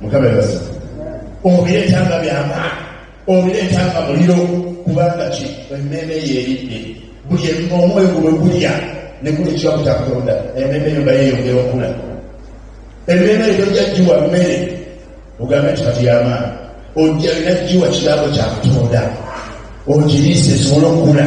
mukabebaza obireeta nga byamaani obireeta nga muliro kubanga ki emmeeme eyo eridde buli omwoyo gulwe gulya nekuli ekiwamu kya katonda emmeeme eyo nga yeyongera okula emmeeme eyo tojja giwa mmere ogambe nti kati yamaani ojja lina giwa kirabo kya katonda ogiriise esobola okukula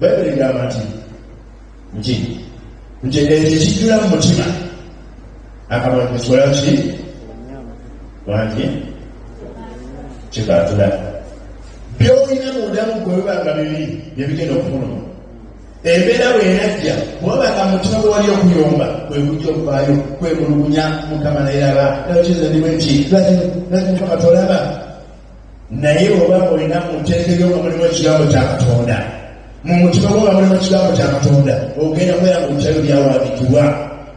bayibuli egamba nti nti nti ekyo ekijjula mu mutima akamwa kikola ki wangi kikatula byolina mundamu gwebibanga bibi byebigenda okufunuma embeera bwenajja kubabanga mutima gwewali okuyomba kwekujja okuvaayo kwemulugunya mukama nayeraba nakiza ndimu nti lwaki mukama tolaba naye oba olina mu nteeka eyo nga mulimu ekigambo kya katonda mu mutima gwo nga mulimu ekigambo kya katonda ogenda kwera mu bitayo byawandikibwa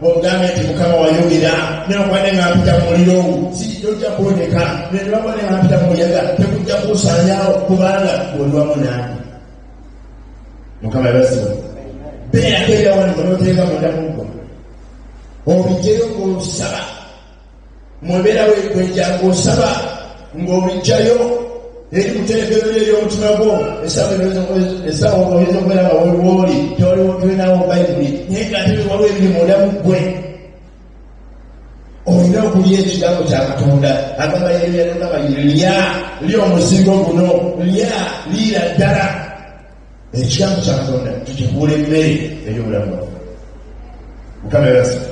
ogambe nti mukama wayogera newakwane nga mpita mu muliro sijojja kwoneka nenewakwane nga mpita mu muyaga tekujja kuusanyawo kubanga oliwamu nange mukama yabasiba beerako ebyawandikwa noteeka munda muggo obijjeyo ngaolusaba mu mbeera wekwekya ng'osaba ng'obijjayo eri mu terekero lyo ery'omutima gwo esaba oyinza okubeera nga woliwooli tewaliwo tulinawo bayibuli naye nga ate waliwo ebiri munda mu ggwe olina okulya ekigambo kya katonda agamba yeryalogamba lya lya omuzigo guno lya liira ddala ekigambo kya katonda tukibuula emmere ey'obulamu bwaffe mukama ebasa